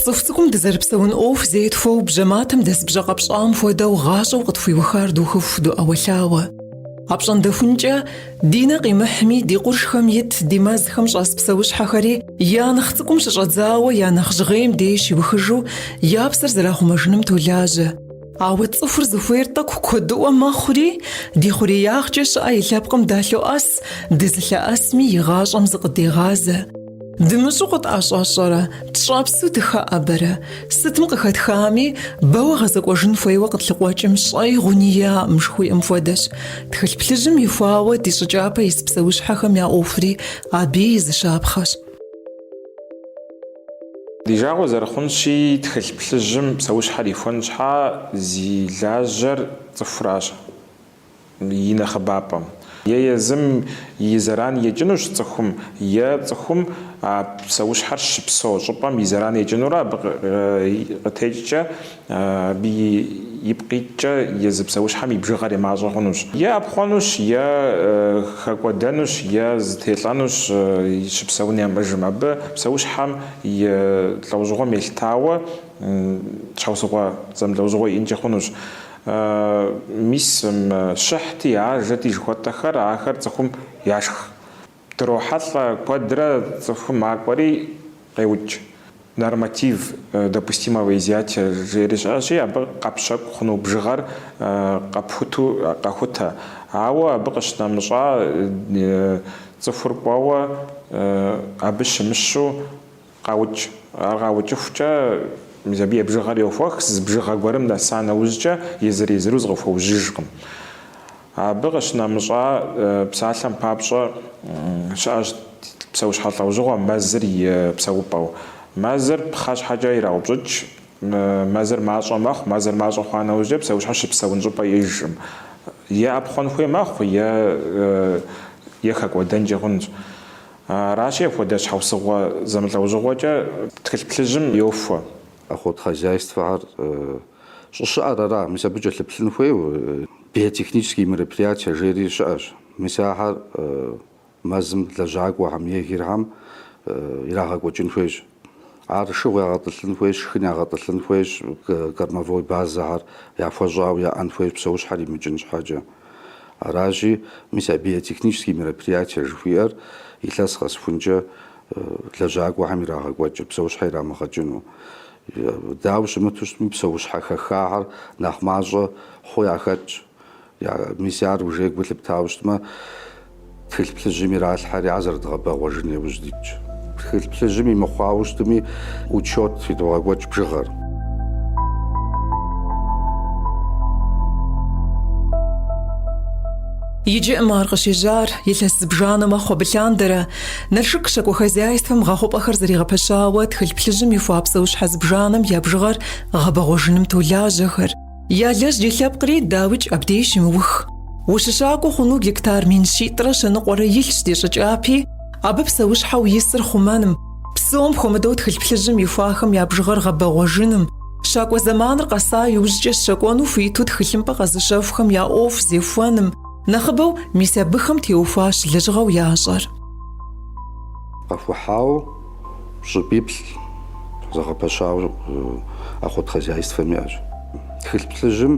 Цӏыху цӏыкӏум дызэрыпсэун ӏуэху зетхуэу бжьэматэм дэс бжьэ къэпщӏам хуэдэу гъащӏэу къытхуиухар духыху доӏэуэлъауэ. Апщӏондэхункӏэ, ди нэ къимыхьми, ди къуршхэм ит, ди мэзхэм щӏэс псэущхьэхэри я нэхъ цӏыкӏум щыщӏэдзауэ я нэхъ жьгъейм деж щиухыжу я псэр зэрахъумэжыным толажьэ. Ауэ цӏыхур зыхуейр тӏэкӏу куэдыӏуэ мэхъури, ди хъуреягъкӏэ щыӏэ и лъэпкъым далъоӏэс, дызылъэӏэсми и гъащӏэм зыкъыдегъазэ. Дымыщӏэу къытӏэщӏэщӏэрэ, тщӏэпсу дыхэӏэбэрэ? Сытым къыхэтхами, бэуэ гъэзэкӏуэжын хуейуэ къытлъыкъуэкӏым щӏэи гъуни иӏэкъым жыхуиӏэм хуэдэщ. Тхылъ плъыжьым ихуауэ ди щӏы кӏапэ ис псэущхьэхэм я ӏуэхури абы и зы щапхъэщ. Ди жагъуэ зэрыхъунщи, тхылъ плъыжьым псэущхьэр ихуэн щхьа зи лажьэр цӏыхуращ и нэхъыбапӏэм. Е езым и зэран екӏынущ цӏыхум, е цӏыхум а псэущхьэр щыпсэу щӏыпӏэм и зэран екӏынурэ абы къытекӏкӏэ Абы ипкъ иткӏэ езы псэущхьэм и бжыгъэр е мащӏэ хъунущ. Е ӏэпхъуэнущ, е хэкӏуэдэнущ, е зэтелӏэнущ щыпсэун ямыӏэжмэ. Абы псэущхьэм и лӏэужьыгъуэм елъытауэ щхьэусыгъуэ зэмылӏэужьыгъуэ иӏэнкӏи хъунущ. Мис щыхьти, ажэти жыхуэтӏэхэр, ахэр цӏыхум яшх. Дрохьэлӏэ куэдрэ цӏыхум макӏуэри къеукӏ, норматив допустимого изъятия жери щыӏэщи, абы къэпщэкӏу хъуну бжыгъэр къэпхуту къэхутэ. Ауэ абы къыщынэмыщӏа цӏыхур кӏуэуэ абы щымыщу, Къаукӏ. Ар къаукӏыхукӏэ, мис абы и бжыгъэр йохуэх, зы бжыгъэ гуэрым нэса нэужькӏэ езыр-езыру зыкъыхуэужьыжкъым. Абы къыщынэмыщӏа псалъэм папщӏэ, щыӏэщ псэущхьэ лӏэужьыгъуэ мэзыр и псэупӏэу. Мэзыр пхъэщхьэкӏэ ираупщӏыкӏ, мэзыр мащӏэ мэхъу, мэзыр мащӏэ хъуа нэужькӏэ псэущхьэр щыпсэун щӏыпӏэ иӏэжкъым. Е ӏэпхъуэн хуей мэхъу, е е хэкӏуэдэнкӏи хъунщ. Аращи, апхуэдэ щхьэусыгъуэ зэмылӏэужьыгъуэкӏэ тхылъ плъыжьым йохуэ. Охотхозяйствэхэр щӏыщыӏэр ара? Мис абы кӏэлъыплъын хуейуэ биотехнические мероприятия жери щыӏэщ. Мис ахэр мэзым лэжьакӏуэхэм егерхэм ирагъэкӏуэкӏын хуейщ. Ар шыгъу ягъэтӏылъын хуейщ, шхын ягъэтӏылъын хуейщ, кормовой базэхэр яхуэщӏауэ яӏэн хуейщ псэущхьэр имыкӏын щхьэкӏэ. Аращи, мис а биотехнические мероприятия жыхуиӏэр илъэс къэсхункӏэ лэжьакӏуэхэм ирагъэкӏуэкӏыр, псэущхьэ ирамыгъэкӏыну. Дауэ щымыту щытми, псэущхьэ хэхахэр нэхъ мащӏэ хъу яхэтщ. Мис ар уже гу лъыптауэ щытмэ, тхылъ плъыжьым иралъхьэри, ар зэрыдгъэбэгъуэжын иужь дитщ. Тхылъ плъыжьым имыхъуауэ щытми, учет идогъэкӏуэкӏ бжыгъэр. Иджы, ым, ар къыщежьар илъэс зыбжанэ мэхъу абы лъандэрэ. Налшык щакӏуэ хозяйствэм гъэхъупӏэхэр зэригъэпэщауэ тхылъ плъыжьым ихуа псэущхьэ зыбжанэм я бжыгъэр гъэбэгъуэжыным толажьэхэр. Ялэжьри лъэпкъри, дауикӏ, абдеж щымыух. Ущыщакӏуэ хъуну гектар мин щитӏрэ щэ ныкъуэрэ илъщ ди щӏы кӏапи, абы псэущхьэу исыр хъумэным, псом хуэмыдэу тхылъ плъыжьым ихуахэм я бжыгъэр гъэбэгъуэжыным, щакӏуэ зэманыр къэса иужькӏэ щэкӏуэну хуиту тхылъымпӏэ къэзыщэхухэм я ӏуэху зехуэным, нэхъыбэу мис абыхэм теухуащ лэжьыгъэу ящӏэр. Къэхухьауэ Щӏыпӏиплӏ зэгъэпэщауэ охотхозяйствэм иӏэщ. Тхылъ плъыжьым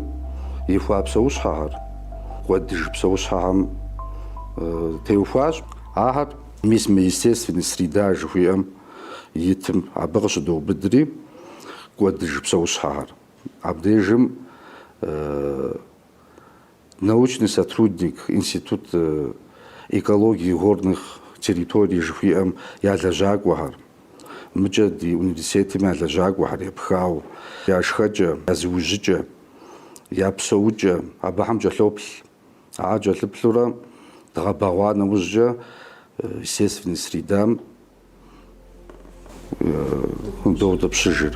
ихуа псэущхьэхэр кӏуэдыж псэущхьэхэм теухуащ. Ахэр мис мы естественная среда жыхуиӏэм итым абы къыщыдоубыдри кӏуэдыж псэущхьэхэр. Абдежым. научный сотрудник Институт экологии горных территорий жыхуиӏэм я лэжьакӏуэхэр, мыкӏэ ди университетым я лэжьакӏуэхэр епхауэ, я шхэкӏэ, я зыужьыкӏэ, я псэукӏэ абыхэм кӏэлъоплъ. Ахэр кӏэлъыплъурэ дгъэбэгъуа нэужькӏэ естественной средам доутӏыпщыжыр.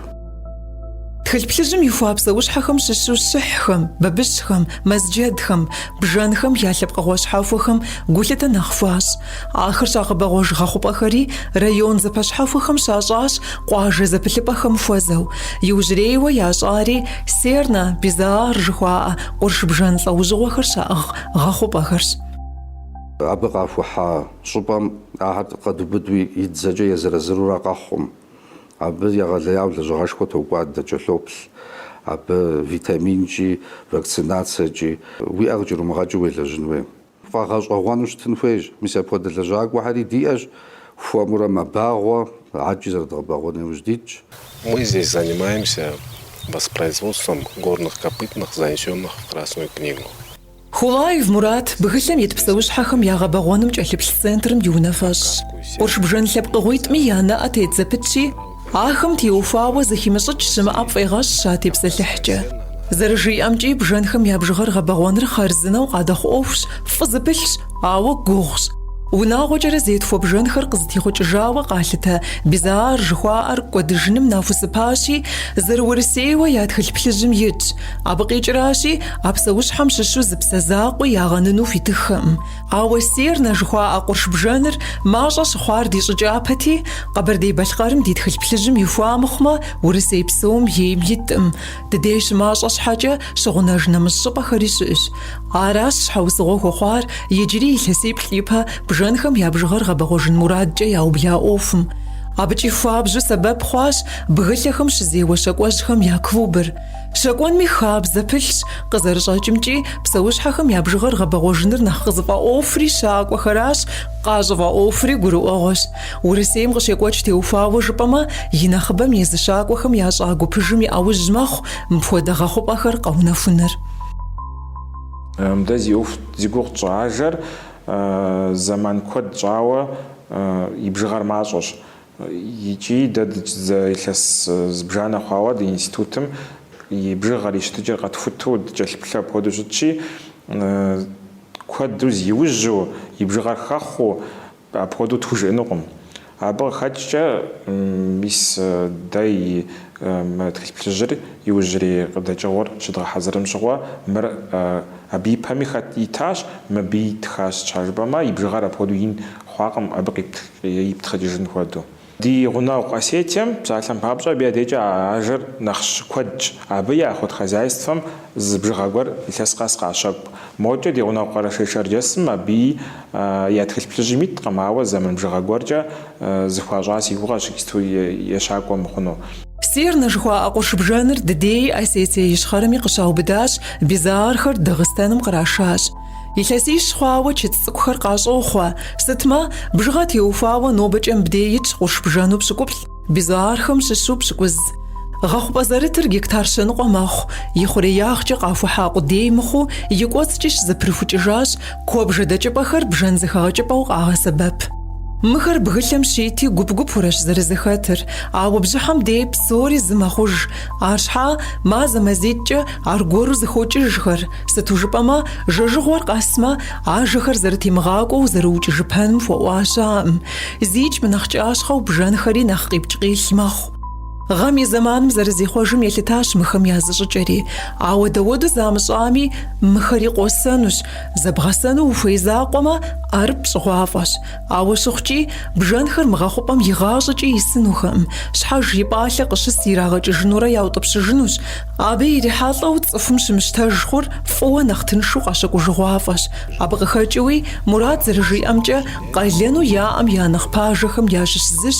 Тхылъ плъыжьым ихуа псэущхьэхэм щыщу щыхьхэм, бабыщхэм, мэзджэдхэм, бжэнхэм я лъэпкъыгъуэ щхьэхуэхэм гулъытэ нэхъ хуащӏ. Ахэр щагъэбэгъуэж гъэхъупӏэхэри район зэпэщхьэхуэхэм щащӏащ къуажэ зэпылъыпӏэхэм хуэзэу. Иужьрейуэ ящӏари Сернэ, Безоар жыхуаӏэ къурш бжэн лӏэужьыгъуэхэр щаӏыгъ гъэхъупӏэхэрщ. Абы къахухьа Щӏыпӏэм ахэр къэдубыду и дзэкӏэ езыр-езырурэ къэхъукъым, абы егъэлеяуэ лэжьыгъэшхуэ токӏуадэ, кӏэлъоплъ абы витаминкӏи, вакцинацэкӏи. Уи ӏэ къыкӏэрумыгъэкӏыу уелэжьын хуейщ, пфӏэгъэщӏэгъуэну щытын хуейщ. Мис апхуэдэ лэжьакӏуэхэри диӏэщ, хуэмурэ мэбагъуэ, адэкӏи зэрыдгъэбэгъуэн иужь дитщ. Мы здесь занимаемся воспроизводством горных копытных занесенных в Красную книгу. Хулаев Мурат бгылъэм ит псэущхьэхэм я гъэбэгъуэным кӏэлъыплъ центрым и унафэщӏщ. Къурш бжэн лъэпкъыгъуитӏми я нэӏэ тет зэпытщи, ахэм теухуауэ зыхимыщӏыкӏ щымыӏэ пфӏегъэщӏ щатепсэлъыхькӏэ. Зэрыжиӏэмкӏи, бжэнхэм я бжыгъэр гъэбэгъуэныр хъарзынэу къадэхъу ӏуэхущ, фӏы зыпылъщ, ауэ гугъущ. Унагъуэкӏэрэ зетхуэ бжэнхэр къызытехъукӏыжауэ къалъытэ Безоар жыхуаӏэр кӏуэдыжыным нахусыпащи, зэрыурысейуэ я тхылъ плъыжьым итщ. Абы къикӏращи, а псэущхьэм щыщу зы псэ закъуи ягъэныну хуитыххэкъым. Ауэ Сернэ жыхуаӏэ къурш бжэныр мащӏэ щыхъуар ди щӏы кӏапэти, Къэбэрдей-Балъкъэрым ди тхылъ плъыжьым ихуа мыхъумэ, Урысей псом ейм иткъым. Ди дей щымащӏэ щхьэкӏэ щыгъунэж нэмыщӏ щӏыпӏэхэри щыӏэщ. Аращ щхьэусыгъуэ хуэхъуар иджыри илъэсиплӏ ипэ бжэнхэм я бжыгъэр гъэбэгъуэжын мурадкӏэ яубла ӏуэхум. Абыкӏи хуабжьу сэбэп хъуащ бгылъэхэм щызеуэ щакӏуэжьхэм я клубыр. Щэкӏуэнми хабзэ пылъщ, къызэрыщӏэкӏымкӏи, псэущхьэхэм я бжыгъэр гъэбэгъуэжыныр нэхъ къызыфӏэӏуэхури щакӏуэхэращ, къащӏыфӏэӏуэхури гурыӏуэгъуэщ. Урысейм къыщекӏуэкӏ теухуауэ жыпӏэмэ, и нэхъыбэм езы щакӏуэхэм ящӏа гупыжым и ӏэужь мэхъу мыпхуэдэ гъэхъупӏэхэр къэунэхуныр. Мыдэ зи ӏуэху зи гугъу тщӏы ажэр зэман куэд щӏауэ и бжыгъэр мащӏэщ. Икӏи дэ дыкӏзэ илъэс зыбжанэ хъуауэ ди институтым и бжыгъэр, и щытыкӏэр къэтхуту дыкӏэлъыплъэу апхуэдэу щытщи, куэду зи иужьу, и бжыгъэр хэхъуу, апхуэдэу тхужыӏэнукъым. Абы къыхэкӏкӏэ, мис дэ и мы тхылъ плъыжьыр иужьрей къыдэкӏыгъуэр щыдгъэхьэзырым щыгъуэ, мыр абы и пэми хэт итащ, мыбыи итхащ, щхьэ жыпӏэмэ, и бжыгъэр апхуэдэу ин хъуакъым, абы къипт иптхъыкӏыжын хуэдэу. Ди гъунэгъу Осетием, псалъэм папщӏэ, абы я декӏэ а ажэр нэхъ щыкуэдщ. Абы я охот хозяйствэм зы бжыгъэ гуэр илъэс къэс къащэкӏу. Мокӏэ ди гъунэгъу Къэрэшей-Шэрджэсым абыи я тхылъ плъыжьым иткъым, ауэ зэман бжыгъэ гуэркӏэ зэхуащӏа си гугъэщ иджыпсту ещакӏуэ мыхъуну. Серна жыхуаӏэ къурш бжэныр ди дей Осетие Ищхъэрэми къыщаубыдащ, безоархэр Дагъыстэным кърашащ. Илъэсищ хъуауэ чыцӏ цӏыкӏухэр къащӏохъуэ, сытмэ, бжыгъэ теухуауэ нобэкӏэ мыбдей итщ къурш бжэну пщыкӏуплӏ, безоархэм щыщу пщыкӏуз. Гъэхъупӏэ зэрытыр гектар щэныкъуэ мэхъу, и хъуреягъкӏэ къахухьа къудей мыхъуу, и кӏуэцӏкӏи щызэпрыхукӏыжащ, куэбжэ дэкӏыпӏэхэр бжэн зэхэгъэкӏыпӏэу къагъэсэбэп. Мыхэр бгылъэм щити, гуп-гупурэщ зэрызэхэтыр, ауэ бжьыхьэм дей псори зы мэхъуж, арщхьа, мазэ-мазитӏкӏэ аргуэру зэхокӏыжхэр, Сыту жыпӏэмэ, жэжыгъуэр къэсмэ, ажэхэр зэрытемыгъакӏуэу зэрыукӏыжыпэным хуэӏуа щыӏэкъым. Зикӏ мынэхъ кӏащхъэу бжэнхэри нэхъ къипкӏ-къилъ мэхъу. Гъэм и зэманым зэрызихъуэжым елъытащ мыхэм я зыщӏыкӏэри. Ауэ дауэду замыщӏами, мыхэри къосэнущ. Зэбгъэсэну ухуей закъуэмэ, ӏэрыпӏ щӏыгъуафӏэщ. Ауэ щыхъукӏи, бжэнхэр мы гъэхъупӏэм игъащӏэкӏи исынухэкъым, щхьэж и пӏалъэ къыщыс ирагъэкӏыжынурэ яутӏыпщыжынущ. Абы ирихьэлӏэу цӏыхум щымыщтэж хъур фӏыуэ нэхъ тыншу къэщэкӏужыгъуафӏэщ. Абы къыхэкӏыуи, Мурат зэрыжиӏэмкӏэ, къалэну яӏэм я нэхъ пажэхэм ящыщ зыщ,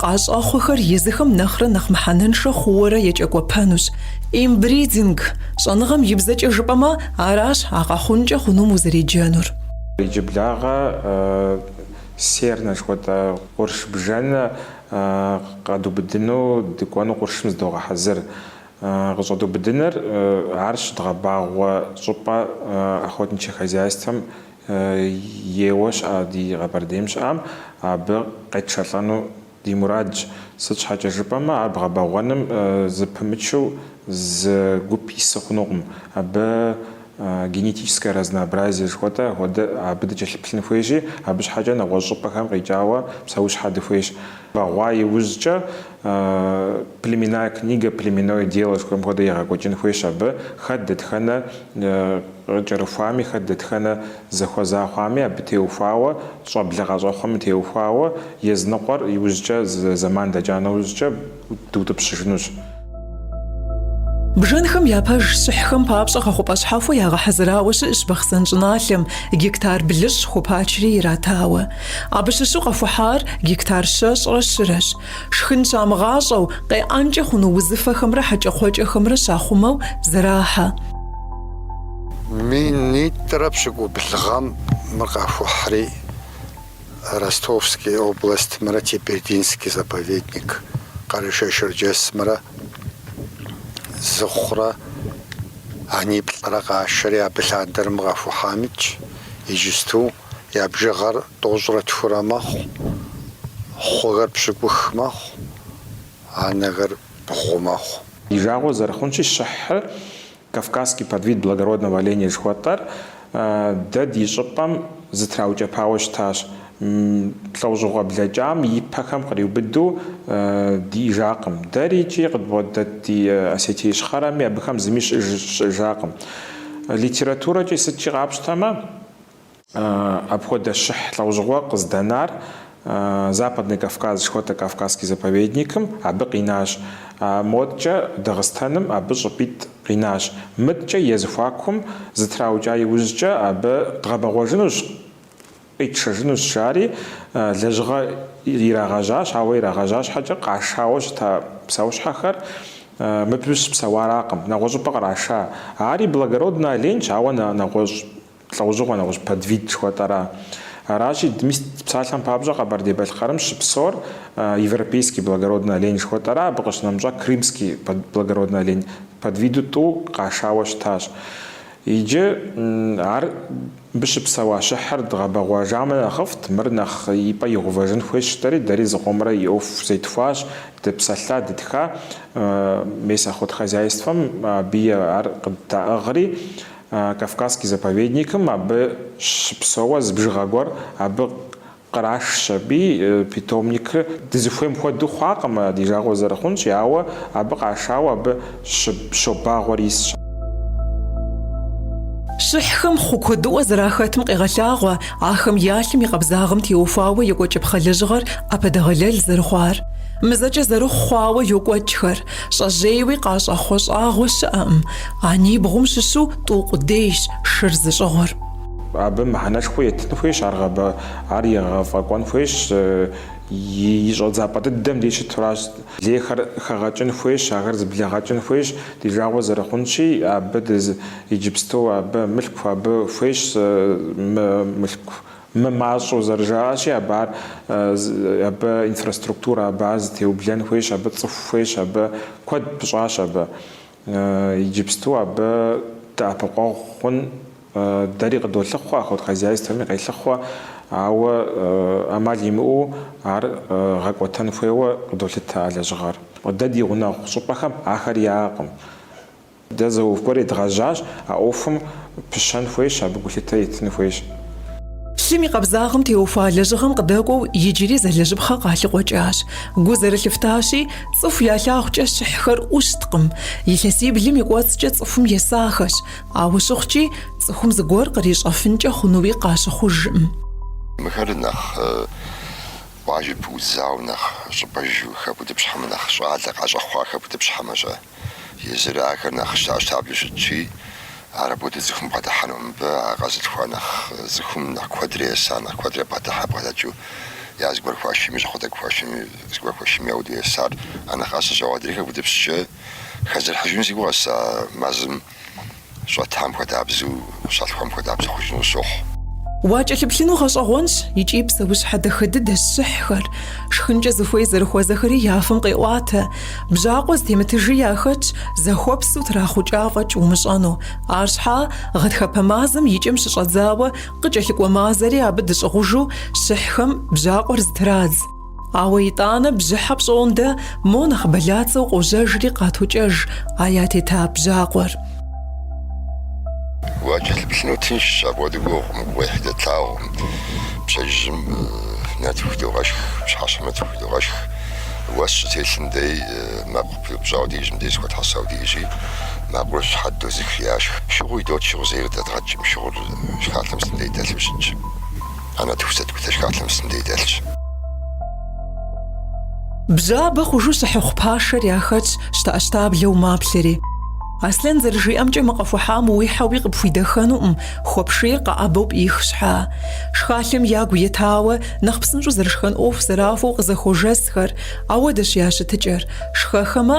Къащӏэхъуэхэр езыхэм нэхърэ нэхъ мыхьэнэншэ хъууэрэ екӏэкӏуэпэнущ. Инбридинг, щӏэныгъэм и бзэкӏэ жыпӏэмэ, аращ а къэхъункӏэ хъунум узэреджэнур. Иджыблагъэ сернэ жыхуэтӏэ къурш бжэнэ къэдубыдыну дыкӏуэну къуршым зыдогъэхьэзыр. Къыщӏэдубыдыныр ар щыдгъэбагъуэ щӏыпӏэ охотничье хозяйствэм Ейуэ щыӏэ ди Къэбэрдейм щыӏэм, абы къетшэлӏэну ди мурадщ. Сыт щхьэкӏэ жыпӏэмэ, ар бгъэбэгъуэным зыпымычу зы гуп ису хъунукъым. Абы генетическое разнообразие жыхуэтӏэ хуэдэ абы дыкӏэлъыплъын хуейщи, абы щхьэкӏэ нэгъуэщӏ щӏыпӏэхэм къикӏауэ псэущхьэ дыхуейщ. Бэгъуа иужькӏэ Племенная книга, племенное дело жыхуаӏэм хуэдэу егъэкӏуэкӏын хуейщ абы. Хэт дэтхэнэ къыкӏэрыхуами, хэт дэтхэнэ зэхуэза хъуами абы теухуауэ, щӏэблэ къащӏэхъуэми теухуауэ, языныкъуэр иужькӏэ зы зэман дэкӏа нэужькӏэ дутӏыпщыжынущ. Бжэнхэм япэ щыхьхэм папщӏэ гъэхъупӏэ щхьэхуэ ягъэхьэзырауэ щыӏщ Бахъсэн щӏыналъэм, гектар блыщӏ хупачри иратауэ. Абы щыщу къэхухьар гектар щэщӏрэ щырэщ. Шхын щамыгъащӏэу, къеӏэнкӏэ хъуну узыфэхэмрэ хьэкӏэкхъуэкӏэхэмрэ щахъумэу зэрахьэ. Минитӏрэ пщыкӏубл гъэм мыр къахухьри. Ростовский областмрэ Тебердинский заповедник Къэрэшей-Шэрджэсымрэ зы хъурэ аниплӏрэ къашэри абы лъандэрым къэхухьам итщ, иджысту я бжыгъэр тӏощӏрэ тхурэ мэхъу, хъухэр пщыкӏух мэхъу, анэхэр бгъу мэхъу. Ди жагъуэ зэрыхъунщи, щыхьыр Кавказский подвид благородного оленя жыхуэтӏэр дэ ди щӏыпӏэм зэтраукӏэпауэ щытащ. Лӏэщӏыгъуэ блэкӏам и пэхэм къриубыду диӏэжакъым. Дэри икӏи къыдбгъэдэт ди Осетие Ищхъэрэми абыхэм зыми щыӏэж щыӏэжакъым. Литературэкӏи сыткӏи къапщтэмэ, Апхуэдэ щыхь лӏэужьыгъуэ къыздэнар Западный Кавказ жыхуэтӏэ Кавказский заповедникым абы къинащ. А модкӏэ Дагъыстэным абы щӏыпӏитӏ къинащ. Мыдкӏэ я зэхуакум зэтраукӏа иужькӏэ абы дгъэбэгъуэжынущ, къитшэжынущ, жари лэжьыгъэ ирагъэжьащ, ауэ ирагъэжьа щхьэкӏэ къашауэ щыта псэущхьэхэр мыбы щыпсэуаракъым, нэгъуэщӏыпӏэ къраша. Ари благороднэ оленьщ, ауэ нэгъуэщӏ Лӏэужьыгъуэ нэгъуэщӏ подвид жыхуэтӏэра? Аращи, мис псалъэм папщӏэ Къэбэрдей-Балъкъэрым щыпсэур европейский благородный олень жыхуэтӏэра, абы къыщынэмыщӏа крымский благородный олень подвиду тӏу къашауэ щытащ. Иджы ар мыбы щыпсэуа щыхьыр дгъэбэгъуэжамэ нэхъыфӏт, мыр нэхъ ипӏэ игъэувэжын хуейщ жытӏэри, дэри зыкъомрэ и ӏуэху зетхуащ, дыпсэлъа, дытха, мес охотхозяйствэм абыи ар къыддаӏыгъри, Кавказский заповедникым абы щыпсэуэ зы бжыгъэ гуэр абы кърашщ. Аби питомникыр дызыхуейм хуэдэу хъуакъым, ди жагъуэ зэрыхъунщи, ауэ абы къашауэ абы щобагъуэри исщ. Щыхьхэм хъу куэдыӏуэ зэрахэтым къегъэлъагъуэ ахэм я лъым и къабзагъэм теухуауэ екӏуэкӏыпхъэ лэжьыгъэр ӏэпэдэгъэлэл зэрыхъуар. Мызэкӏэ зэрыхъу хъуауэ йокӏуэкӏхэр. Щӏэжьейуи къащӏэхъуэ щӏагъуэ щыӏэкъым, а нибгъум щыщу тӏу къудейщ шыр зыщӏыгъуэр. Абы мыхьэнэшхуэ етын хуейщ, ар гъэбэ, ар егъэфӏэкӏуэн хуейщ, и щӏэдзапӏэ дыдэм деж щытуращ. Лейхэр хэгъэкӏын хуейщ, ахэр зыблэгъэкӏын хуейщ, ди жагъуэ зэрыхъунщи, абы дыз, иджыпсту абы мылъку, абы хуейщ мы мылъку. Мымащӏэу зэрыжаӏащи, абы ар абы инфраструктурэ абы ар зытеублэн хуейщ, абы цӏыху хуейщ, абы куэд пыщӏащ абы. Иджыпсту абы дэӏэпыкъуэгъу хъун дэри къыдолъыхъуэ, охотхозяйствэми къелъыхъуэ, ауэ ӏэмал имыӏэу ар гъэкӏуэтэн хуейуэ къыдолъытэ а лэжьыгъэр. Дэ ди гъунэгъу щӏыпӏэхэм ахэр яӏэкъым. Дэ зы ӏуэху гуэр едгъэжьащ, а ӏуэхум пыщэн хуейщ, абы гулъытэ етын хуейщ. Лъым и къабзагъым теухуа лэжьыгъэм къыдэкӏуэу иджыри зэлэжьыпхъэ къалъыкъуэкӏащ. Гу зэрылъыфтащи, цӏыху я лъагъукӏэ щыхьхэр ӏущткъым. Илъэсиблым и кӏуэцӏкӏэ цӏыхум есахэщ, ауэ щыхъукӏи, цӏыхум зыгуэр кърищӏэфынкӏэ хъунуи къащыхъужкъым. Мыхэр нэхъ къуажэ пыӏудзауэ, нэхъ щӏыпӏэжу хэбутӏыпщхьэмэ, нэхъ щӏалэ къащӏэхъуа хэбутӏыпщхьэмэ щэ? езыр ахэр нэхъ щтэӏэщтаблэу щытщи, ар апхуэдэу цӏыхум бгъэдыхьэну, мыбы а къэзылъхуа нэхъ цӏыхум нэхъ куэдрэ есар, нэхъ куэдрэ бгъэдыхьэ бгъэдэкӏыу я зыгуэр хуашийми, щӏакхъуэ тӏэкӏу хуашийми, зыгуэр хуашийми апхуэдэу есар, а нэхъ ӏэсэщ, ауэ адрейхэр гудыпсчэ хэзэрыхьыжыну си гугъэщ а мэзым. Щытам хуэдабзэу, щалъхуам хуэдабзэу хъужыну сщохъу. Уакӏэлъыплъыну гъэщӏэгъуэнщ икӏи псэущхьэ дахэ дыдэщ щыхьхэр. Шхынкӏэ зыхуей зэрыхуэзэхэри я фэм къеӏуатэ. Бжьакъуэ зытемытыжи яхэтщ, захуабзэу трахъукӏа фӏэкӏ умыщӏэну. Арщхьа, гъэтхэпэ мазэм и кӏэм щыщӏэдзауэ къыкӏэлъыкӏуэ мазэри абы дыщӏыгъужу щыхьхэм бжьакъуэр зытрадз. Ауэ итӏанэ бжьыхьэ пщӏондэ мо нэхъ бэлацэу къожьэжри къатокӏэж а ятета бжьакъуэр. Уакӏэлъыплъыну тыншщ апхуэдэ гугъу мы гугъуехьи дэтлъагъукъым. Пщэдджыжьым нартыху идогъэшх, пщыхьэщхьэм нартыху идогъэшх. Уэс щытелъым дей мэкъу пыупщӏауэ деж мыбдеж зэхуэтхьэсауэ диӏэщи, мэкъур щхьэдыдодзыхи яшх. Шыгъу идот, шыгъу зэи дэдгъэкӏкъым, шыгъур шхалъэм сытым дей дэлъу щытщ. А нартыху сыт хуэдэ шхалъэм сытым дей дэлъщ. Бжьабэ хъужу щыхьыхъу пашэр яхэтщ щтэӏэщтаблэу маплъэри. Аслъэн зэрыжиӏэмкӏэ мы къэхухьам уихьэуи къыпхуидэхэнукъым, хуэпшийр къэӏэбэу пӏих щхьа. Шхалъэм ягу етауэ, нэхъ псынщӏэу зэрышхэн ӏуэху зэрахуэу къызэхуожэсхэр, ауэдэщ я щытыкӏэр, шхэхэмэ,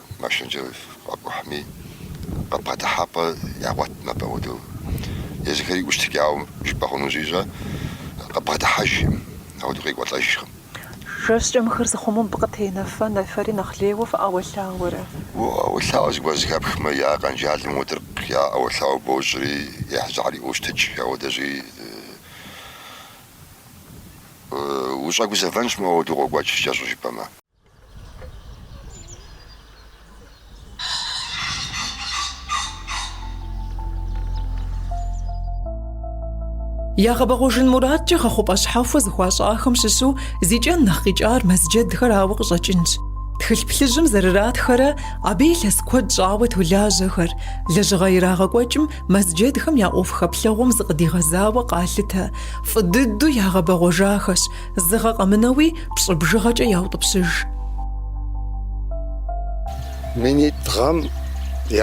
Машинэкӏэ къакӏухьми, къыбгъэдыхьэпӏэ ягъуэт мыбы апхуэдэу. Езыхэри ӏущтыкӏауэ жыпӏэ хъуну щӏищӏэ, къыбгъэдыхьэжкъым, апхуэдэу къекӏуэлӏэжкъым. Жэщкӏэ мыхэр зыхъумэм быкъытенэфэ, нэфэри нэхъ лейуэ фыӏэуэлъауэрэ? Ӏэуэлъауэ зыгуэр зэхэпхмэ, я къэнжалым уэдыркъ, я ӏэуэлъауэ бощӏри, ехь жьагьри ӏуощтыкӏ, ауэдэщи ущӏэгузэвэнщ, моуэ апхуэдэу къокӏуэкӏ, кӏэщӏу жыпӏэмэ. Ягъэбэгъуэжын мурадкӏэ гъэхъупӏэ щхьэхуэ зыхуащӏахэм щыщу зи кӏэн нэхъ къикӏар мэзджэдхэр арауэ къыщӏэкӏынщ. Тхылъ плъыжьым зэрыратхэрэ абы илъэс куэд щӏауэ толажьэхэр, лэжьыгъэ ирагъэкӏуэкӏым мэзджэдхэм я ӏуэху хэплъэгъуэм зыкъыдигъэзауэ къалъытэ, фӏы дыдэу ягъэбэгъуэжахэщ, Зы гъэ къэмынэуи пщӏы бжыгъэкӏэ яутӏыпщыж. Минитӏ гъэм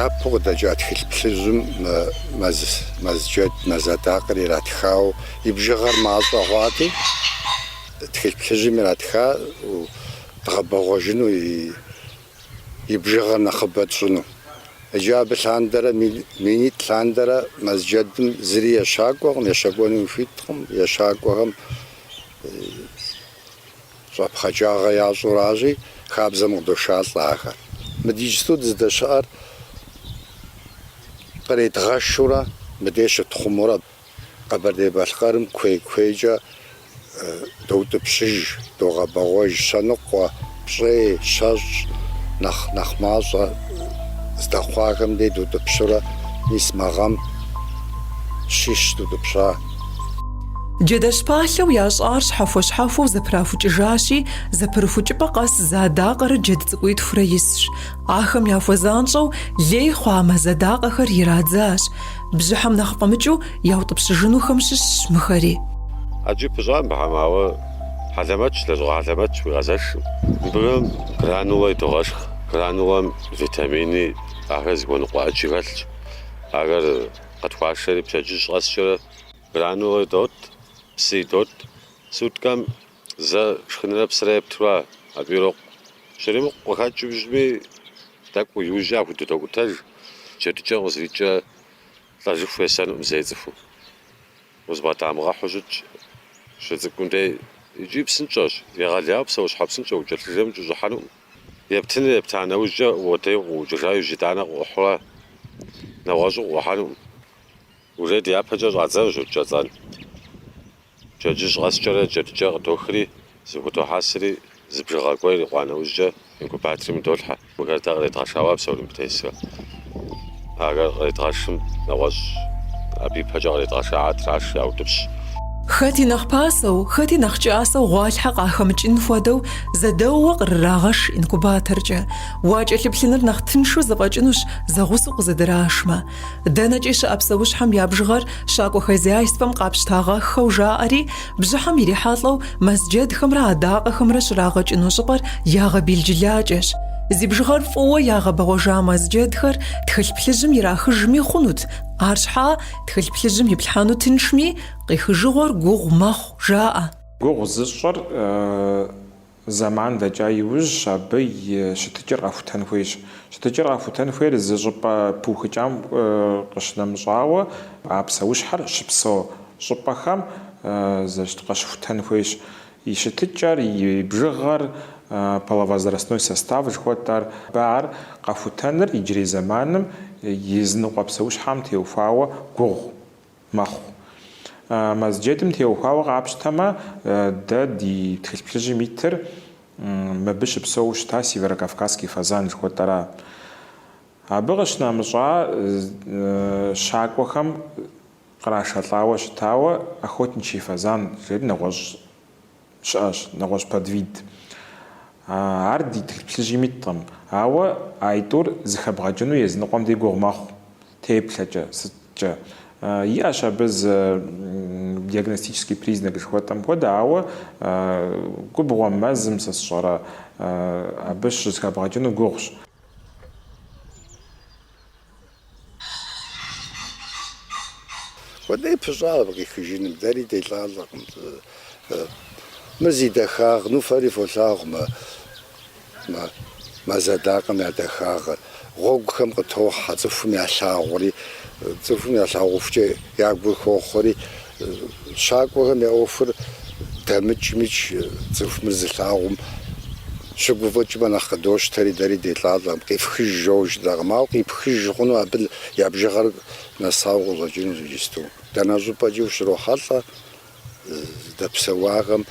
япэу къыдэкӏа тхылъ плъыжьым мэз джэд, мэз адакъэр иратхауэ, и бжыгъэр мащӏэ хъуати, тхылъ плъыжьым иратхауэ дгъэбэгъуэжыну и и бжыгъэр нэхъыбэ тщӏыну. Иджы абы лъандэрэ минитӏ лъандэрэ мэз джэдым зыри ещакӏуэкъым, ещэкӏуэну хуиткъым, ещакӏуэхэм щӏэпхъаджагъэ ящӏэу аращи, хабзэм къыдошалӏэ ахэр. Мы ди иджысту дыздэщыӏэр къредгъэшурэ мыбдеж щытхъумурэ. Къэбэрдей-Балъкъэрым куей-куейкӏэ доутӏыпщыж, догъэбэгъуэж щэныкъуэ, пщӏей, щэщӏ, нэхъ нэхъ мащӏэ здэхъуахэм дей дутӏыпщурэ, мис мы гъэм щищ дутӏыпща. Джэдэщ палъэу ящӏар щхьэхуэ-щхьэхуэу зэпрахукӏыжащи, зэпырыхукӏыпӏэ къэс зы адакъэрэ джэд цӏыкӏуитхурэ исщ. Ахэм яхуэзанщӏэу лей хъуа мэз адакъэхэр ирадзащ. Бжьыхьэм нэхъ фӏэмыкӏыу яутӏыпщыжынухэм щыщщ мыхэри. Ӏэджи пыщӏа мыбыхэм, ауэ хьэлэмэтщ, лэжьыгъэ хьэлэмэтщ уигъэзэшкъым. Мыбыхэм гранулэ идогъэшх. Гранулэм витамини, ахэр зыхуэныкъуэ ӏэджи хэлъщ. Ахэр къытхуашэри пщэдджыжь къэскӏэрэ гранулэ идот, псы идот. Суткэм Зэ шхынрэ псырэ епту ара, абы ирокъу. Щыримыкъу къыхэкӏыу щытми, тӏэкӏу иужькӏэ яхудотокӏутэж, джэдыкӏэм къызэрикӏрэ лӏэжыху есэнукъым зэи цӏыхум. Узыбгъэдамыгъэхьэу щытщ щыцӏыкӏум дей. Икӏи псынщӏэщ, егъэлеяуэ псэущхьэ псынщӏэ укӏэлъыжэми укӏэщӏыхьэнукъым. Ептыныр епта нэужькӏэ, уотэи укъыӏукӏыжа иужь итӏанэ къыӏухьэу ара, нэгъуэщӏу къыӏухьэнукъым. Урей дяпэкӏэ щӏадзэнущ кӏэцӏын. Пщэдджыжь къэскӏэрэ джэдыкӏэ къыдохри, зэхудохьэсри, зы бжыгъэ гуэр ирикъуа нэужькӏэ инкубаторым долъхьэ. Мыхэр дэ къредгъэшауэ а псори мыбы тесхэр. Ахэр къредгъэшым нэгъуэщӏ абы и пэкӏэ къредгъэшаат раш яутӏыпщ. Хэти нэхъ пасэу, хэти нэхъ кӏасэу гъуалъхьэ къахэмыкӏын хуэдэу зэдэууэ къырырагъэш инкубаторкӏэ. Уакӏэлъыплъыныр нэхъ тыншу зэфӏэкӏынущ зэгъусэу къызэдырашмэ. Дэнэкӏи щыӏэ псэущхьэм я бжыгъэр щакӏуэ хозяйствэм къапщытагъэххэу жаӏэри, бжьыхьэм ирихьэлӏэу мэзджэдхэмрэ адакъэхэмрэ щрагъэукӏыну щӏыпӏэр ягъэбелджылакӏэщ. Зи бжыгъэр фӏыуэ ягъэбэгъуэжа мэзджэдхэр тхылъ плъыжьым ирахыжми хъунут, арщхьа тхылъ плъыжьым иплъхьэну тыншми, къихыжыгъуэр гугъу мэхъу, жаӏэ. Гугъу зыщӏыр Зэман дэкӏа иужьщ абы и щытыкӏэр къэхутэн хуейщ. Щытыкӏэр къэхутэн хуейр зы щӏыпӏэ пыухыкӏам къыщынэмыщӏауэ, а псэущхьэр щыпсэу щӏыпӏэхэм къыщыхутэн хуейщ. И щытыкӏэр, и бжыгъэр, половозрастной состав жыхуэтӏэр, абы ар къэхутэныр иджырей зэманым языныкъуэ псэущхьэм теухуауэ гугъу Мэхъу. Мэзджэдым теухуауэ къапщтэмэ, дэ ди Тхылъ Плъыжьым итыр мыбы щыпсэуу щыта Северокавказский фазан жыхуэтӏэра. Абы къыщынэмыщӏа щакӏуэхэм кърашэлӏауэ щытауэ охотничий фазан жери нэгъуэщӏ щыӏэщ, нэгъуэщӏ подвид. Ар ди тхылъ плъыжьым иткъым, ауэ а итӏур зыхэбгъэкӏыну езыныкъуэм дей гугъу мэхъу, теплъэкӏэ, сыткӏэ. Иӏэщ абы зы диагностический признак жыхуэтӏэм хуэдэ, ауэ губгъуэм, мэзым, сэ сщӏэрэ, абы щызыхэбгъэкӏыну гугъущ. Хуэдэи пыщӏа абы къихыжыным, дэри делӏалӏэкъым. Мыр зи дахагъ, ну фэри фолъагъу мы мэз адакъэм я дахагъэр. Гъуэгухэм къытохьэ, цӏыхум ялъагъури, цӏыхум ялъагъухукӏэ я гур хохъуэри, щакӏуэхэм я ӏуэхур дэмыкӏмикӏ цӏыху мыр зылъагъум. Щыгуфӏыкӏмэ нэхъ къыдощтэри, дэри делӏалӏэкъым, къифхыж жоуэ жытӏакъым, ауэ къипхыж хъуну абы я бжыгъэр нэсауэ къыщӏэкӏынущ иджысту. Дэнэ щӏыпӏэкӏи ущрохьэлӏэ здэпсэуахэм,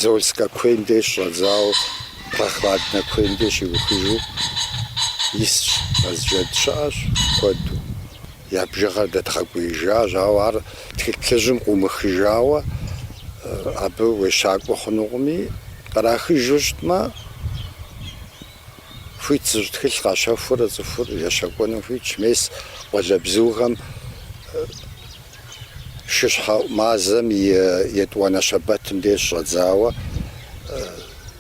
Зольскэ куейм деж щӏэдзауэ, Прохладнэ куейм деж щиухыжу исщ, мэзджэд щыӏэщ куэду. Я бжыгъэр дэдгъэкӏуеижащ, ауэ ар тхылъ плъыжьым къыумыхыжауэ абы уещакӏуэ хъунукъыми, кърахыжу щытмэ, хуит зыщӏ тхылъ къащэхуурэ цӏыхур ещэкӏуэну хуитщ, мес къуалэбзухэм шыщхьэӏу мазэм и етӏуанэ щэбэтым деж щӏэдзауэ.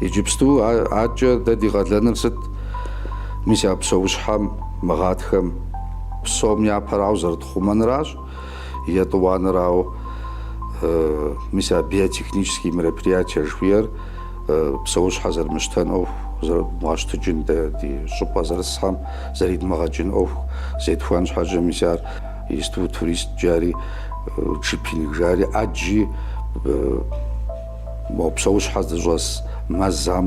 Иджыпстукӏэ дэ ди къалэныр сыт? Мис а псэущхьэм, мы гъатхэм псом япэрауэ зэрытхъумэнращ. Етӏуанэр, ауэ мис а биотехнические мероприятия жыхуиӏэр псэущхьэ зэрымыщтэн ӏуэху зэрыдмыгъэщтэжын, дэ ди щӏыпӏэ зэрысхэм зэридмыгъэкӏын ӏуэху зетхуэн щхьэкӏэ, мис ар исту турист жари джипинг жари ӏэджи мо псэущхьэ здыщӏэс мэзхэм.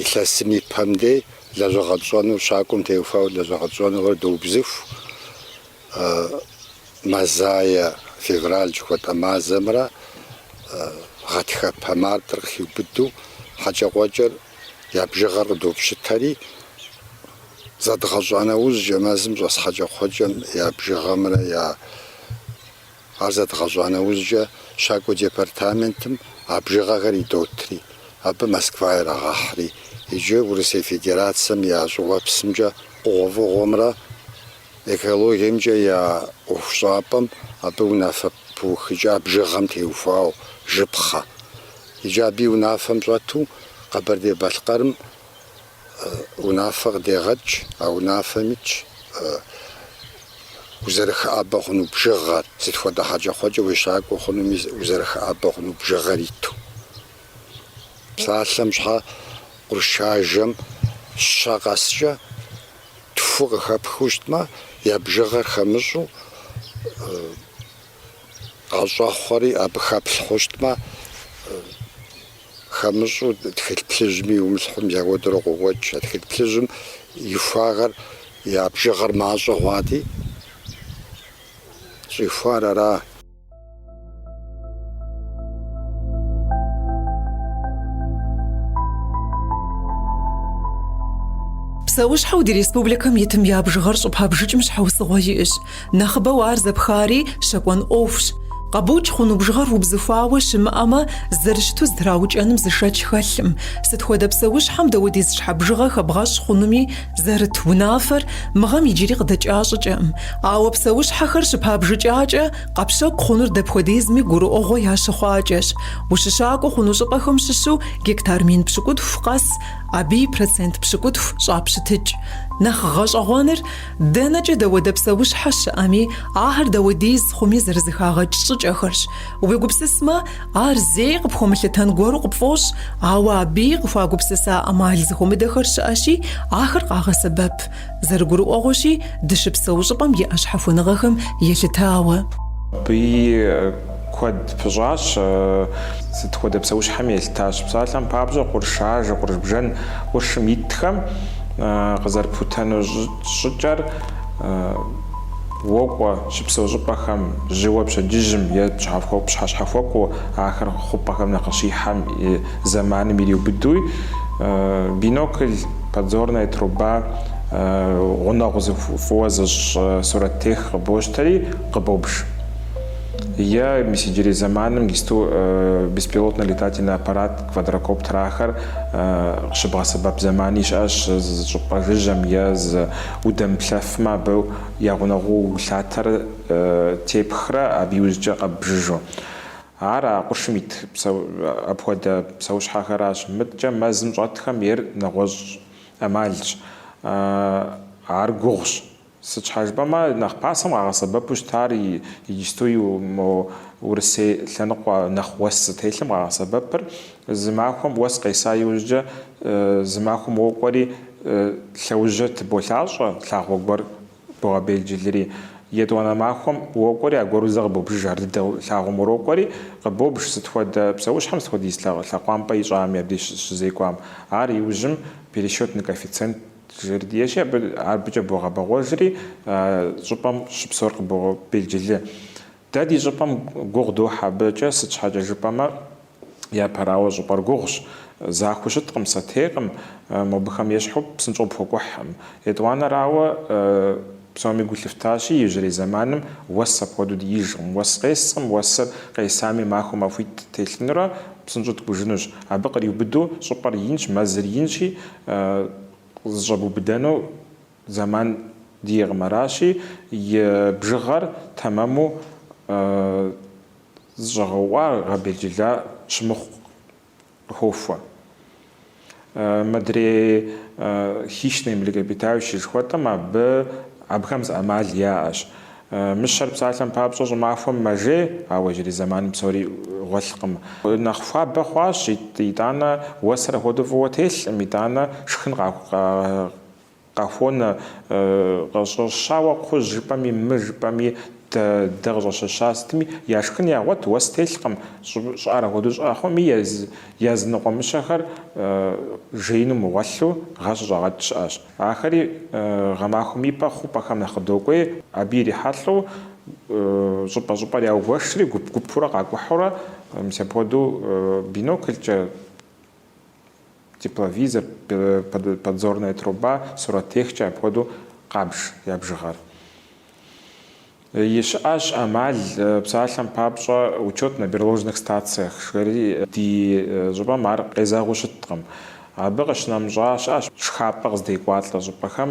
Илъэсым и пэм дей лэжьэгъэ тщӏэнур щакӏуэм теухуауэ лэжьэгъэ тщӏэнухэр доубзыху. Мазае, февраль жыхуэтӏэ мазэмрэ гъатхэпэ мартыр къыхиубыдэу хьэкӏэкхъуэкӏэр я бжыгъэр къыдопщытэри, зэдгъэщӏа нэужькӏэ, мэзым щӏэс хьэкӏэкхъуэкӏэм я бжыгъэмрэ я Ар зэдгъэщӏа нэужькӏэ щакӏуэ департаментым а бжыгъэхэр идотри, абы Москва ирагъэхьри, иджы Урысей Федерацэм я щӏыуэпсымкӏэ хъугъуэфӏыгъуэмрэ экологиемкӏэ я ӏуэхущӏапӏэм абы унафэ пыухыкӏа бжыгъэм теухуауэ жыпхъэ. Иджы абы и унафэм щӏэту Къэбэрдей-Балъкъэрым Унафэ къыдегъэкӏ, а унафэм итщ узэрыхыӏэбэ хъуну бжыгъэр, сыт хуэдэ хьэкӏэкхъуэкӏэ уещакӏуэ хъунуми узэрыхыӏэбэ хъуну бжыгъэр иту. Псалъэм щхьэ къуршажэм щэ къэскӏэ тху къыхэпхыу щытмэ, я бжыгъэр хэмыщӏу, мащӏэ хъури абы хэплъ хъущтмэ, хэмыщӏу тхылъ плъыжьми иумылъхьум зэхуэдэурэ къокӏуэкӏ. А тхылъ плъыжьым ихуахэр, я бжыгъэр мащӏэ хъуати, щӏихуар ара? Псэущхьэу ди республикэм итым я бжыгъэр щӏыпабжыкӏым щхьэусыгъуэ иӏэщ. Нэхъыбэу ар зэпхари щэкӏуэн ӏуэхущ. Къэбукӏ хъуну бжыгъэр убзыхуауэ щымыӏэмэ, зэрыщыту зэтраукӏэным зы шэч хэлъым. Сыт хуэдэ псэущхьэм дауэдиз щхьэ бжыгъэ хэбгъэщӏ хъунуми зэрыт унафэр мы гъэм иджыри къыдэкӏа щӏыкӏэкъым. Ауэ псэущхьэхэр щыпабжыкӏакӏэ, къэпщэкӏу хъунур дапхуэдизми гурыӏуэгъуэ ящыхъуакӏэщ. Ущыщакӏуэ хъуну щӏыпӏэхэм щыщу гектар мин пщыкӏутху къэс, абы и процент пщыкӏутху щӏапщытыкӏ. Нэхъ гъэщӏэгъуэныр, Дэнэкӏэ дауэдэ псэущхьэ щыӏэми, ахэр дауэдиз хъуми зэрызэхагъэкӏ щӏыкӏэхэрщ. Уегупсысмэ, ар зэи къыпхуэмылъытэн гуэру къыпфӏощӏ, ауэ абыи къыхуагупсыса ӏэмал зэхуэмыдэхэр щыӏэщи, ахэр къагъэсэбэп. Зэрыгурыӏуэгъуэщи, дыщыпсэу щӏыпӏэм иӏэ щхьэхуэныгъэхэм елъытауэ. Абыи Куэд пыщӏащ. Сыт хуэдэ псэущхьэми елъытащ. Псалъэм папщӏэ, къурш ажэ, къурш бжэн къуршым итхэм къызэрыплъытэну щӏыкӏэр уокӏуэ, щыпсэу щӏыпӏэхэм, жьыуэ пщэдджыжьым е пщыхьэщхьэхуэкӏуэу ахэр хъупӏэхэм нэхъ щихьэм и зэманым ириубыдэу, и бинокль, подзорная труба, гъунэгъу зы фӏыуэ зыщӏ сурэттех къыбощтэри, къыбобж. Е мис иджырей зэманым иджысту беспилотный летательный аппарат, квадрокоптерхэр къыщыбгъэсэбэп зэмани щыӏэщ, зы щӏыпӏэ жыжьэм е зы удэмыплъэфмэ абы я гъунэгъуу улъатэрэ тепхрэ абы иужькӏэ къэббжыжу. Ар а къуршым ит апхуэдэ псэущхьэхэращ. Мыткӏэ мэзым щӏэтхэм ейр нэгъуэщӏ ӏэмалщ, ар гугъущ. Сыт щхьа жыпӏэмэ, нэхъ пасэм къагъэсэбэпу щытар иджысту и мо Урысей лъэныкъуэ нэхъ уэс зытелъым къагъэсэбэпыр, зы махуэм уэс къеса иужькӏэ, зы махуэм уокӏуэри, лъэужьыр тыболъащӏэ, лъагъуэ гуэр богъэбелджылри. Етӏуанэ махуэм уокӏуэри, аргуэру зэ къыбобжыж ар дыдэу лъагъуэм урокӏуэри, къыбобж сыт хуэдэ псэущхьэм, сыт хуэдиз лъэкъуампӏэ ищӏами абдеж щызекӏуам. Ар иужьым пересчетный коэффициент. Жэрдиеши абы абыкӏэ богъэбэгъуэжри, щӏыпӏэм щыпсэур къыбобелджылы. Дэ ди щӏыпӏэм гугъу дохь абыкӏэ, сыт щхьэкӏэ жыпӏэмэ, япэрауэ щӏыпӏэр гугъущ, захуэу щыткъым, сэтейкъым, мобыхэм ещхьу псынщӏэу пхуэкӏухькъым. Етӏуанэрауэ, псоми гу лъыфтащи, иужьрей зэманым уэс апхуэдэу дыижкъым. Уэс къескъым, уэсыр къесами махуэ махуитӏ телъынурэ псынщӏэу ткӏужынущ. Абы къриубыдэу щӏыпӏэр инщ, мэзыр инщи, Къызэщӏэбубыдэну зэман диӏэкъым, аращи, и бжыгъэр тэмэму зэщӏэгъэуӏуа гъэбелджыла щымыхъу къыхохуэ. Мыдрей хищные млекопитающие жыхуэтӏэм абы, абыхэм зы ӏэмал яӏэщ. Мыщэр псалъэм папщӏэ щӏымахуэм мэжей, ауэ иджырей зэманым псори гъуэлъкъым. Нэхъ хуабэ хъуащ, итӏанэ уэсыр апхуэдэу фӏыуэ телъкъым, итӏанэ шхын къахуонэ. Къыщӏэщауэ кхъужь жыпӏэми, мы жыпӏэми, дэ къыщӏэщэща сытми, я шхын ягъуэт, уэс телъкъым. Щӏыӏэр апхуэдэу щӏыӏэ хъуми, языныкъуэ мыщэхэр жеину мыгъуэлъу, гъэ щыщӏагъэт щыӏэщ. Ахэри гъэмахуэм и пэ хъупӏэхэм нэхъ къыдокӏуей, абы ирихьэлӏэу щӏыпӏэ-щӏыпӏэр яугуэшри, гуп-гупурэ къакӏухьурэ, мис апхуэдэу биноклкӏэ, тепловизор, подзорная труба, сурэттехкӏэ апхуэдэу къабж я бжыгъэр. Щыӏэщ ӏэмал, псалъэм папщӏэ, учет на берложных стациях жыхуаӏэри ди щӏыпӏэм ар къезэгъыу щыткъым. Абы къыщынэмыщӏа щыӏэщ шхапӏэ къыздекӏуалӏэ щӏыпӏэхэм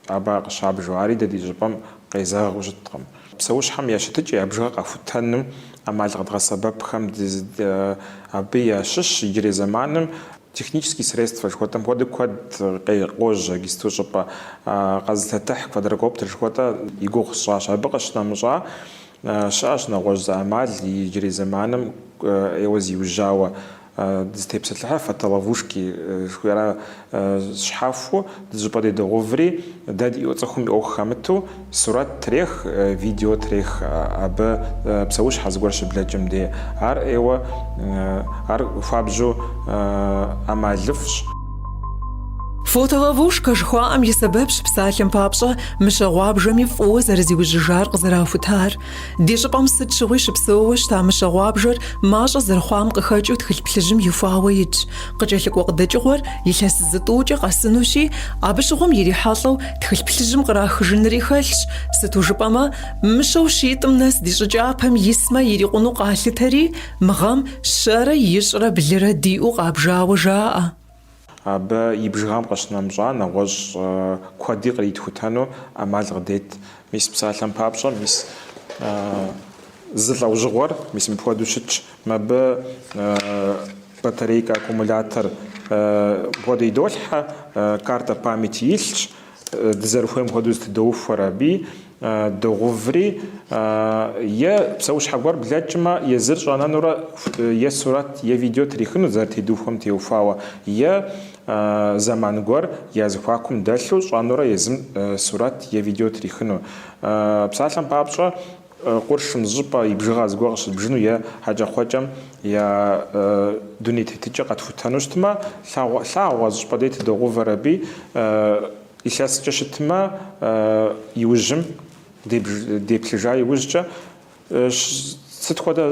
абы къыщабжу, ари дэ ди щӏыпӏэм къезэгъыу щыткъым. Псэущхьэм я щытыкӏэ я бжыгъэ къэхутэным ӏэмал къэдгъэсэбэпхэм абы ящыщщ иджырей зэманым Технические средства жыхуэтӏэм хуэдэу куэд къе къожьэ иджыпсту. Щӏыпӏэ къэзылъэтыхь квадрокоптер жыхуэтӏэ и гугъу сщӏащ. Абы къыщынэмыщӏа, щыӏэщ нэгъуэщӏ зы ӏэмал, иджырей зэманым ӏейуэ зиужьауэ дызытепсэлъыхьыр фотоловушки жыхуиӏэра щхьэхуэу. Зыщӏыпӏэ де догъэуври, дэ ди ӏуэ цӏыхум и ӏуэху хэмыту, сурэт трех, видео трех абы псэущхьэ зыгуэр щыблэкӏым де. Ар ӏейуэ, ар хуабжьу ӏэмалыфӏщ. Фотоловушка жыхуаӏэм и сэбэпщ псалъэм папщӏэ мыщэ гъуабжэми фӏыуэ зэрызиужьыжар къызэрахутар. Ди щӏыпӏэм сыт щыгъуи щыпсэууэ щыта мыщэ гъуабжэр мащӏэ зэрыхъуам къыхэкӏыу тхылъ плъыжьым ихуауэ итщ. Къыкӏэлъыкӏуэ къыдэкӏыгъуэр илъэс зытӏукӏэ къэсынущи, абы щыгъуэм ирихьэлӏэу тхылъ плъыжьым кърахыжынри хэлъщ, сыту жыпӏэмэ, мыщэу щитӏым нэс ди щӏы кӏапэм исмэ ирикъуну къалъытэри, мы гъэм щэрэ ищӏрэ блырэ диӏэу къабжауэ жаӏэ. Абы и бжыгъэм къыщынэмыщӏа нэгъуэщӏ куэди къритхутэну ӏэмал къыдет. Мис псалъэм папщӏэ, мис зы лӏэужьыгъуэр, мис мыпхуэдэу щытщ, мыбы батарейкэ, аккумулятор мыпхуэдэу идолъхьэ, картэ памяти илъщ, дызэрыхуейм хуэдэу зэтыдоухуэр аби. Догъэуври, е псэущхьэ гуэр блэкӏмэ, езыр щӏэнэнурэ е сурэт, е видео трихыну зэрытедухуэм теухуауэ, е зэман гуэр я зэхуакум дэлъу щӏэнурэ езым сурэт е видео трихыну. Псалъэм папщӏэ, къуршым зыщӏыпӏэ и бжыгъэ зыгуэр къыщыдбжыну е хьэкӏэкхъуэкӏэм я дуней тетыкӏэр къэтхутэну щытмэ, лъагъуэ, лъагъуэ зыщӏыпӏэ де тыдогъэувэр аби. Илъэскӏэ щытмэ, иужьым деплъыжа иужькӏэ, сыт хуэдэ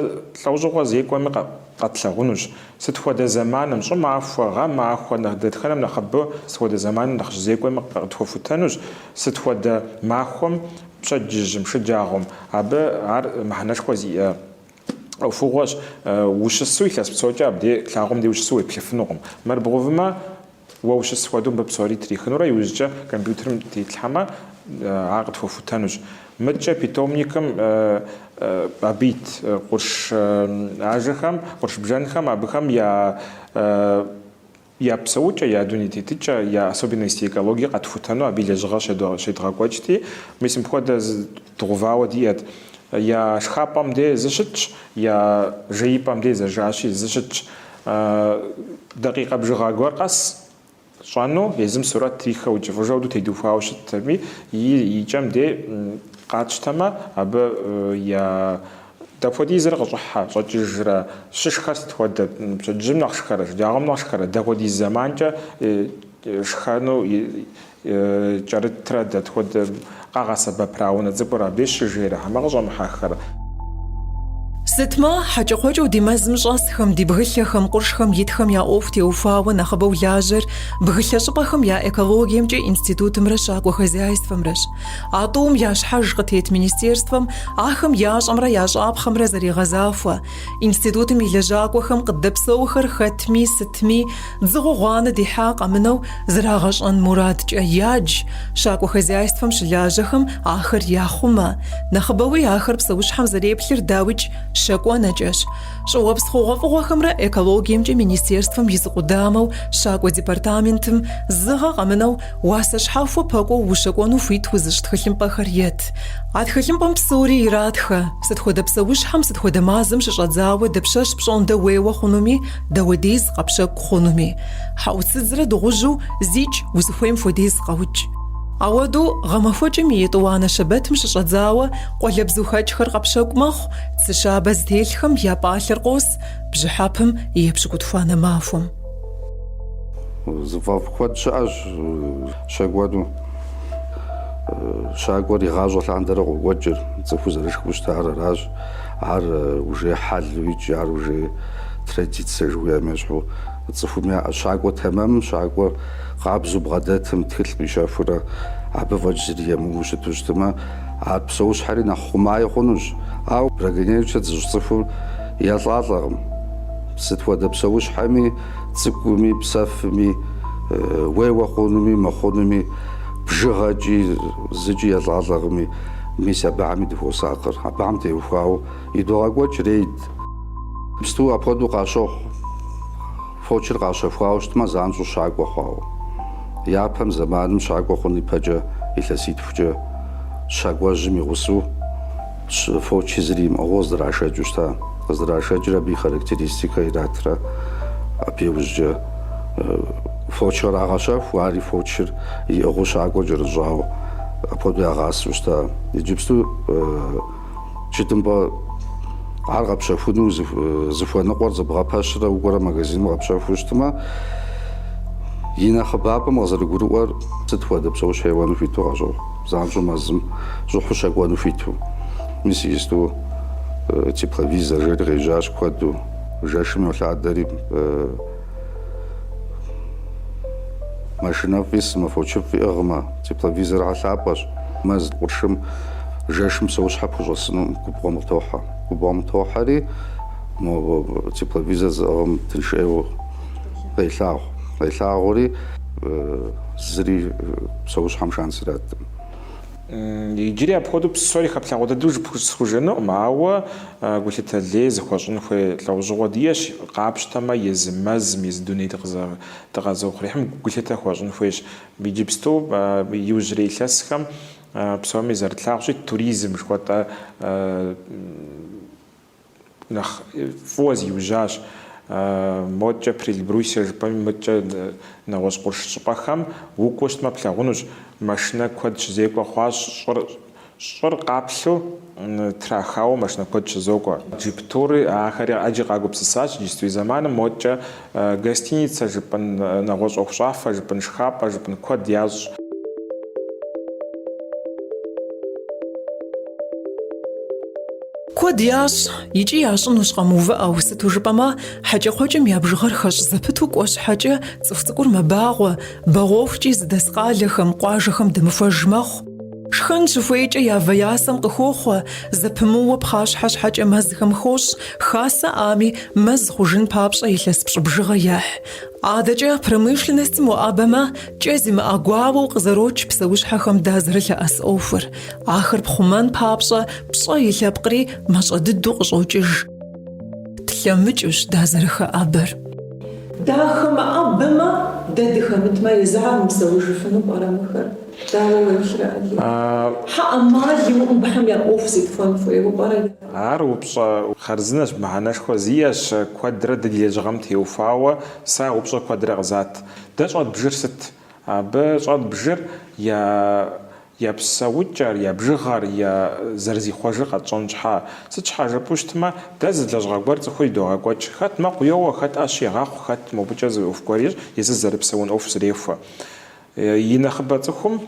лӏэужьыгъуэ зекӏуэми къэтлъэгъунущ. Сыт хуэдэ зэманым, щӏымахуэ, гъэмахуэ, нэхъ дэтхэнэм нэхъыбэу сыт хуэдэ зэманым нэхъ щызекӏуэми къытхуэхутэнущ, сыт хуэдэ махуэм, пщэдджыжьым, шэджагъуэм. Абы ар мыхьэнэшхуэ зиӏэ ӏуэхугъуэщ. Ущысу илъэс псокӏэ абдей лъагъуэм де ущысу уеплъыфынукъым. Мыр бгъэувмэ, Уэ ущыс хуэдэу мыбы псори трихынурэ иужькӏэ компьютерым тетлъхьэмэ, ар къытхуэхутэнущ. Мыдкӏэ питомникым абы ит къурш ажэхэм, къурш бжэнхэм абыхэм я я псэукӏэ, я дуней тетыкӏэ, я особенности экологии къэтхутэну абы и лэжьыгъэр щедгъэкӏуэкӏти, мис мыпхуэдэ Дгъэувауэ диӏэт. Я шхапӏэм де зы щытщ, я жеипӏэм де зэжащи, зы щытщ. Дакъикъэ бжыгъэ гуэр къэс щӏэну, езым сурэт трихэу ункӏыфӏыжэу ду тедухуауэ щытт аби, и кӏэм де къатщтэмэ, абы я дапхуэдизрэ къыщӏыхьэ, щӏэкӏыжрэ, щышхэр сыт хуэдэ, пщэдджыжьым нэхъ шхэрэ, шэджагъуэм нэхъ шхэрэ, дапхуэдиз зэманкӏэ, Шхэну кӏэрытрэ дэт хуэдэ къагъэсэбэпрэ а унэ цӏыкӏур абы щыжейрэ хьэмэ къыщӏэмыхьэххэрэ? Сытми, хьэкӏэкхъуэкӏэу ди мэзым щӏэсхэм, ди бгылъэхэм, къуршхэм итхэм я ӏуэху теухуауэ нэхъыбэу лажьэр бгылъэ щӏыпӏэхэм я экологиемкӏэ институтымрэ щакӏуэ хозяйствэмрэщ. А тӏум я щхьэж къытет министерствэм ахэм ящӏэмрэ ящӏапхъэмрэ зэригъэзахуэ, Институтым и лэжьакӏуэхэм къыддэпсэухэр хэтми сытми, дзыгъуэ гъуанэ дихьа къэмынэу зрагъэщӏэн мурадкӏэ ядж, щакӏуэ хозяйствэм щылажьэхэм ахэр яхъумэ. Нэхъыбэуи ахэр псэущхьэм зэреплъыр, дауикӏ, щакӏуэ нэкӏэщ. Щӏыуэпс хъугъуэфӏыгъуэхэмрэ экологиемкӏэ министерствэм и зы къудамэу щакӏуэ департаментым зы гъэ къэмынэу Уасэ щхьэхуэ пэкӏуэу ущэкӏуэну хуит узыщӏ тхылъымпӏэхэр ет. А тхылъымпӏэм псори иратхэ. Сыт хуэдэ псэущхьэм, сыт хуэдэ мазэм щыщӏэдзауэ дапщэщ пщӏондэ уейуэ хъунуми, дапхуэдиз къэпщэкӏу хъунуми. Хьэӏуцыдзрэ дыгъужьу зикӏ узыхуейм хуэдиз къэукӏ. Апхуэдэу гъэмахуэкӏым и етӏуанэ щэбэтым щыщӏэдзауэ къуалэбзухэкӏхэр къэпщэкӏу мэхъу, цы щабэ зытелъхэм я пӏалъэр къос бжьыхьэпым епщыкӏутхуанэ махуэм. Зыфӏэфӏ куэд щыӏэщ щэкӏуэну. Щакӏуэр игъащӏэ лъандэрэ къокӏуэкӏыр, цӏыхур зэрышхэу щытар аращ. Ар уже хьэлу икӏи ар уже традицэ жыхуиӏэм ещхьу цӏыхум яӏэ. Щакӏуэ тэмэм, щакӏуэ къабзэу бгъэдэтым, тхылъ къищэхурэ абы фӏэкӏ зыри емыуэу щыту щытмэ, ар псэущхьэри нэхъ хъумаи хъунущ. Ауэ браконьерничать зыщӏ цӏыхур елӏалӏэкъым. Сыт хуэдэ псэущхьэми, цӏыкӏуми, псэфми, уейуэ хъунуми, мыхъунуми, бжыгъэкӏи, зыкӏи елӏалӏэкъыми, мис абыхьэми дыхуосакъыр. Абыхьэм теухуауэ идогъэкӏуэкӏ рейд. Псту апхуэдэу къащохъу, фочыр къащэхуауэ щытмэ, занщӏэу щакӏуэ хъуауэ. Япэм, зэманым щакӏуэ хъун ипэкӏэ илъэситхукӏэ щакӏуэжьым и гъусэу. Щӏы фочи зыри имыӏыгъыу къыздрашэкӏыу щыта, къыздрашэкӏыр абы и характеристикэ иратрэ, абы иужькӏэ фоч кърагъэщэху, ари фочыр иӏыгъыу щакӏуэ кӏэрыщӏауэ, апхуэдэу ягъасэу щыта. Иджыпсту тхылъымпӏэ ар къэпщэхуну зыхуэныкъуэр зыбгъэпэщрэ укӏуэрэ магазиным къэпщэхуу щытмэ, и нэхъыбапӏэм къызэрыгурыӏуэр сыт хуэдэ псэущхьэ еуэну хуиту къыщохъу. Занщӏэу мэзым щӏыхьу щэкӏуэну хуиту, мис иджысту тепловизор жери къежьащ куэду. Жэшым йолъадэри, машинэфӏ исмэ, фочыфӏ иӏыгъмэ, тепловизорхэр лъапӏэщ. Мэз къуршым жэшым псэущхьэ пхущӏэсыну губгъуэм къытохьэ. Губгъуэм тохьэри, мо тепловизор зыӏыгъым тынш ӏейуэ. Къелъагъу. Къелъагъури, зыри псэущхьэм шанс ираткъым. Иджыри апхуэдэу псори хэплъагъуэ дыдэу жып- схужыӏэнукъым, ауэ гулъытэ лей зыхуэщӏын хуей лӏэужьыгъуэ диӏэщ, къапщтэмэ, езы мэзым, езы дуней дыкъэзыухъуреихьым гулъытэ хуэщӏын хуейщ. Иджыпсту иужьрей илъэсхэм псоми зэрытлъагъущи, туризм жыхуэтӏэ Нэхъ фӏыуэ зиужьащ моткӏэ Приэльбрусье жыпӏэми мыткӏэ нэгъуэщӏ къурш щӏыпӏэхэм. Укӏуэу щытмэ, плъагъунущ, машинэ куэд щызекӏуэ хъуащ, щӏыр щӏыр къаплъу трахауэ машинэ куэд щызокӏуэ. Джип-тури, ахэри ӏэджи къагупсысащ иджыпстурей зэманым. Моткӏэ Гостиницэ жыпӏэн, нэгъуэщӏ ӏуэхущӏафэ жыпӏэн, шхапӏэ жыпӏэн куэд ящӏ. Куэд ящӏ икӏи ящӏынущ къэмыувыӏэу, сыту жыпӏэмэ, хьэкӏэкхъуэкӏэм я бжыгъэр хэщӏ зэпыту кӏуэ щхьэкӏэ цӏыху цӏыкӏур мэбагъуэ, бэгъуэхукӏи зыдэс къалэхэм, къуажэхэм дэмыхуэж мэхъу. Шхэн щыхуейкӏэ я вэ я сэм къыхохъуэ, зэпымыууэ пхъащхьэ щхьэкӏэ мэзхэм хощӏ, хасэ ӏами, мэз хъужын папщӏэ илъэс пщӏы бжыгъэ ехь. Адэкӏэ промышленностым уӏэбэмэ, кӏэ зимыӏэ гуауэу къызэрокӏ псэущхьэхэм дазэрылъэӏэс ӏуэхур. Ахэр пхъумэн папщӏэ пщӏэ и лъэпкъри мащӏэ дыдэу къыщӏокӏыж. Тлъэмыкӏыущ дазэрыхэӏэбэр. Дахэмыӏэбэмэ, дэ дыхэмытмэ, езыхэр мыпсэужыфыну пӏэрэ мыхэр? Дауэ уеплърэ Алий? Ар упщӏэ хъарзынэщ, мыхьэнэшхуэ зиӏэщ, куэдрэ ди лэжьыгъэм теухуауэ сэ а упщӏэр куэдрэ къызат. Дэ щӏэдбжыр сыт? Абы щӏэдбжыр я я псэукӏэр, я бжыгъэр, я зэрызихъуэжыр къэтщӏэн щхьа? Сыт щхьа жыпӏэу щытмэ, дэ зы лэжьыгъэ гуэр цӏыхур идогъэкӏуэкӏ, хэт мэкъу йоуэ, хэт ӏэщ егъэхъу, хэт мобыкӏэ зы ӏуэху гуэр ещӏэ, езыр зэрыпсэун ӏуэху зэрехуэ. И нэхъыбэ цӏыхум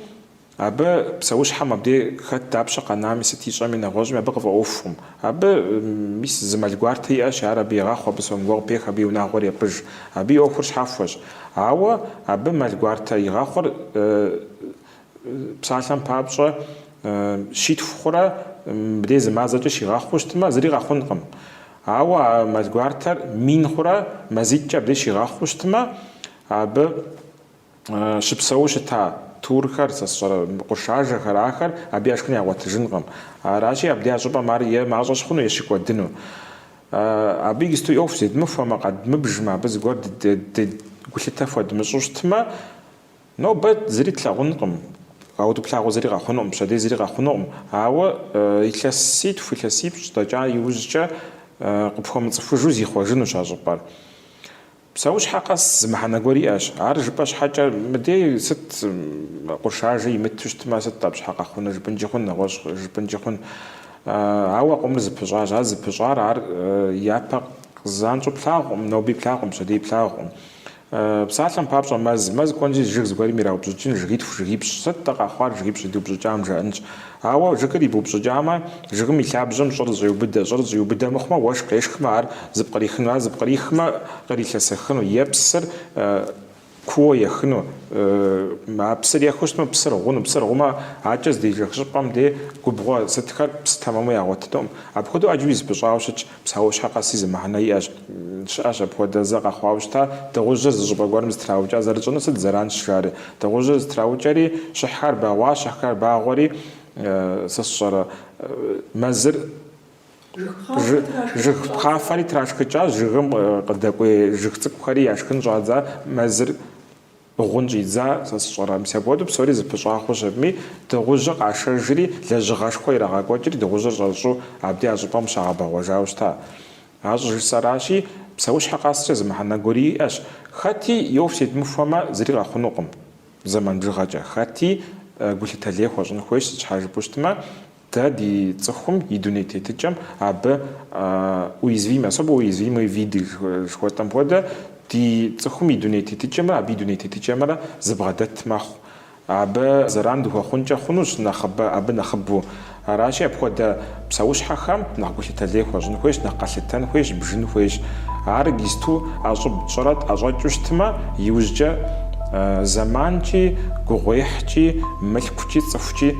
абы псэущхьэм абдей хэт дапщэ къэнами, сыт ищӏэми, нэгъуэщӏми абы къыфӏэӏуэхукъым. Абы, мис, зы мэл гуартэ иӏэщ, ар абы егъэхъу, абы сом гуэр къыпех, абы и унагъуэр епӏыж. Абы и ӏуэхур щхьэхуэщ. Ауэ абы мэл гуартэ игъэхъур псалъэм папщӏэ щитху хъурэ, мыбдей зы мазэкӏэ щигъэхъуу щытмэ, зыри къэхъункъым. Ауэ а мэл гуартэр мин хъурэ, мазитӏкӏэ абдей щигъэхъуу щытмэ, абы. щыпсэуу щыта турхэр, сэ сщӏэрэ, къуршажэхэр, ахэр абы я шхын ягъуэтыжынкъым. Аращи, абдей а щӏыпӏэм ар е мащӏэ щыхъуну, е щыкӏуэдыну. Абы иджысту ӏуэху зедмыхуэмэ, къэдмыбжмэ, абы зыгуэр ди гулъытэ хуэдмыщӏу щытмэ, нобэ зыри тлъагъункъым, ауэ плъагъуу зыри къэхъунукъым, пщэдей зыри къэхъунукъым. Ауэ илъэситху, илъэсипщӏ дэкӏа иужькӏэ къыпхуэмыцӏыхужу зихъуэжынущ а щӏыпӏэр. Псэущхьэ къэс зы мыхьэнэ гуэр иӏэщ. Ар жыпӏэ щхьэкӏэ, мыдей сыт къуршажэ имыту щытмэ, сыт абы щхьа къэхъуныр жыпӏынкӏи хъун, нэгъуэщӏ жыпӏынкӏи хъун. Ауэ къомыр зыпыщӏащ. Ар зыпыщӏар ар япэ къызанщӏэу плъагъукъым, ноби плъагъукъым, пщэдей плъагъукъым. Псалъэм папщӏэ, мэз. Мэз кӏуэнщи, жыг зыгуэрым ираупщӏыкӏын, жыгитху, жыгипщӏ. Сыт-тӏэ къэхъуар жыгипщӏ идыупщӏыкӏам, жаӏэнщ. Ауэ жыгыр ибупщӏыкӏамэ, жыгым и лъабжьэм щӏыр зэщӏеубыдэ, щӏыр зэщӏиубыдэ мыхъумэ, уэшх къешхмэ, ар зыпкърихыну, ар зыпкърихмэ, кърилъэсэхыну, е псыр кууэ ехыну, а псыр ехыу щытмэ, псыр гъуну, псыр гъумэ, акӏэ здежэх щӏыпӏэм де губгъуэ сытхэр псы тэмэму ягъуэтынукъым. Апхуэдэу ӏэджэуи зыпыщӏауэ щытщ. Псэущхьэ къэси зы мыхьэнэ иӏэщ. Щыӏэщ апхуэдэ зэ къэхъуауэ щыта, дыгъужьыр зы щӏыпӏэ гуэрым зытраукӏа зэрытщӏынур сыт зэранщ жари. Дыгъужьыр зытраукӏэри, щыхьхэр бэгъуащ, щыхьхэр бэгъуэри, сэ сщӏэрэ, мэзыр, жыг пхъафэри трашхыкӏащ, жыгым къыдэкӏуей жыг цӏыкӏухэри яшхын щӏадза, мэзыр. Гъун щӏидза, сэ сщӏэрэ? Мис апхуэдэу псори зыпыщӏа хъущ абыми, дыгъужьыр къашэжри, лэжьыгъэшхуэ ирагъэкӏуэкӏри, дыгъужьыр щӏэрыщӏу абди а щӏыпӏэм щагъэбэгъуэжауэ щыта. Ар щӏыжысӏэращи, псэущхьэ къэскӏэ зы мыхьэнэ гуэр иӏэщ, хэти и ӏуэху зедмыхуэмэ, зыри къэхъунукъым зэман бжыгъэкӏэ, хэти гулъытэлей хуэщӏын хуейщ сыт щхьэ жыпӏэу щытмэ, Дэ ди цӏыхум и дуней тетыкӏэм абы уязвимые, особо уязвимые виды жыхуэтӏэм хуэдэ, ди цӏыхум и дуней тетыкӏэмрэ абы и дуней тетыкӏэмрэ зыбгъэдэт мэхъу. Абы зэран дыхуэхъункӏэ хъунущ нэхъыбэ, абы нэхъыбэу. Аращи, апхуэдэ псэущхьэхэм нэхъ гулъытэлей хуэщӏын хуейщ, нэхъ къэлъытэн хуейщ, бжын хуейщ. Ар иджыпсту ӏэщӏыб тщӏырэ тӏэщӏэкӏыу щытмэ, иужькӏэ зэманкӏи, гугъуехькӏи, мылъкукӏи, цӏыхукӏи